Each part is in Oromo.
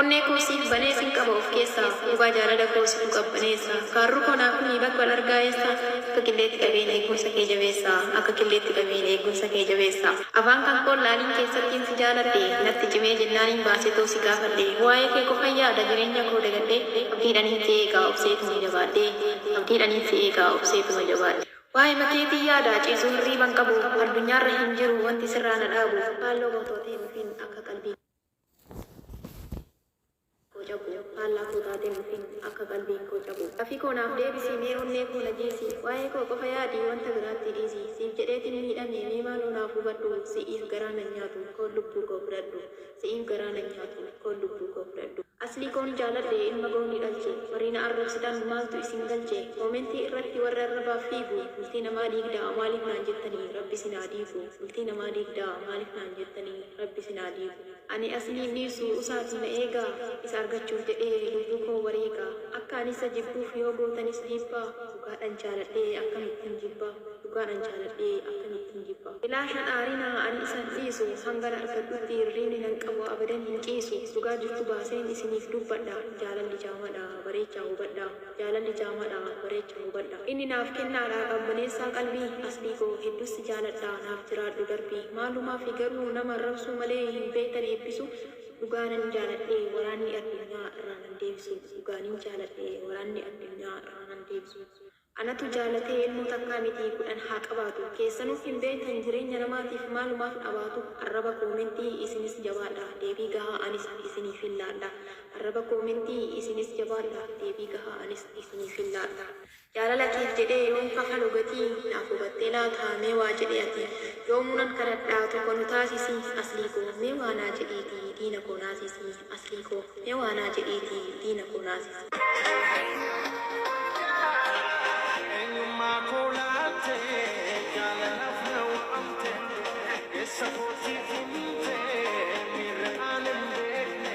Onnee koo siif banee sin qaba of keessaa Gubaa jaalala koo situ qabbaneessa Faarruu koo naaf himii bakka wal argaa eessa Akka qilleetti qabeen eegumsa kee jabeessa Akka qilleetti qabeen eegumsa kee jabeessa Afaan kan koon laaliin keessattiin si jaaladhe Natti cimee jennaaniin baaseetoo si gaafadhe Waa'ee kee qofan yaada jireenya koo dagadhee Abdiidhaniin si eegaa obseetuma jabaadhee Abdiidhaniin si eegaa obseetuma jabaadhee Waa'ema keetiin yaada ciisu hirriiban qabu Addunyaarra hin jiru wanti sirraa na dhaabu Faalloo gootootiin dhufin akka qalbii koo. koo cabu faallaa koo taatee mufin akka qalbiin koo cabu Gaaffii koo naaf deebisi mee onnee koo na jiisi Waa'ee koo qofa yaadi wanta biraattii dhiisi Siif jedheetin miidhame mee maaloo naaf hubadhu Si'iif garaa nan nyaatu koon lubbuu koo fudhadhu Si'iif garaa nan nyaatu koon lubbuu koo fudhadhu Aslii koon jaaladhe ilma gowni dhalche Warri na arrabsitan maaltu isin galche Koomentii irratti warri arrabaaf fiigu Bultii namaa diigda maaliif naan jettanii Rabbi isin haa diigu. Bultii namaa diigdaa maalif naan jettanii rabbi isin haa diigu. Ani as niin dhiisu usaatii na eegaa Isa argachuuf jedhee lubbuu koo wareega Akka ani isa jibbuuf yoo gootanis dhiibbaa Dhugaadhan jaaladhee akkamittin jibba Dhugaadhan jaaladhee akkamittin jibba. Ilaashan aarinaa ani isa hin dhiisu Hangan argadhutti hirriibni nan qabu abadan hin ciisu Dhugaa jirtu baaseen isiniif dubbadha Jaalalli jaamadha bareechaa hubadhaa. Jaalalli jaamaadha bareecha hubadha. Inni naaf kennaadha qabbaneessaa qalbii Aslii koo hedduu si jaaladha naaf jiraadhu darbi Maalumaafi garuu nama arrabsuu malee hin beektan eebbisu Dhugaa nan jaaladhe waraanni addunyaa irraa nan deebisu Dhugaa nin jaaladhe waraanni addunyaa irraa nan deebisu Anatu jaalatee ilmoo takkaa miti kudhan haa qabaatu Keessanuu hin beektan jireenya namaatiif maalumaaf dhabaatu Arraba koomentii isinis jabaadha deebii gahaa anis isiniifin laadha Arraba koo miti isinis jabaadha deebii gahaa anis isiniifin laadha. Jaalala keef jedhee yoon kafalu gatii naaf hubattee laata mee waa jedhi ati yoomuu nan kadhadha tokko nu taasisi Aslii koo mee waa naa jedhiiti diina koo naasisi Aslii koo mee waa naa jedhiiti diina koo naasisi. Eenyummaa koo laattee jaalalaaf na waamtee eessa kootiif himtee miirri aan hin beekne.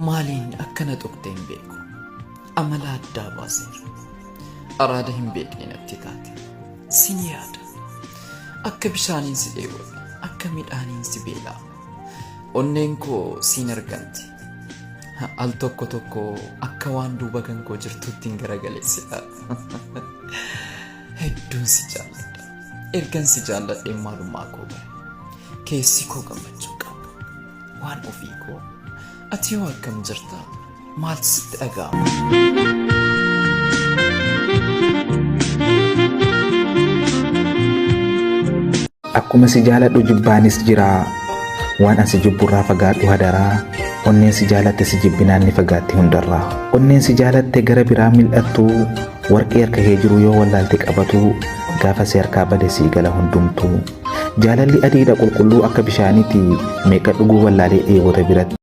Maaliin akka na tuqxe hin beeku. Amala addaa baaseera. Araada hin beekne natti taate. Sin yaada. Akka bishaaniin si dheebote, akka midhaaniin si beelaa. Onneen koo siin arganti. Al tokko tokko akka waan duuba kan koo jirtutti hin garagaleessita. Hedduun si jaalladha. Ergan si jaalladhee maalummaa koo bare. Keessi koo gammachuu qaba. Waan ofii koo. Ati hoo akkam jirta? Maaltu sitti dhaga'ama? Akkuma si jaaladhu jibbaanis jira. Waan asi jibburraa fagaadhu hadaraa. Onneen si jaalatte si jibbinaan ni fagaatti hundarraa. Onneen si jaalatte gara biraa mil'attu. Warqee harka kee jiru yoo wallaalte qabatu. Gaafa si harkaa bade sii gala hundumtu. Jaalalli adiidha qulqulluu akka bishaaniiti meeqa dhuguu wallaalee dheebota biratti.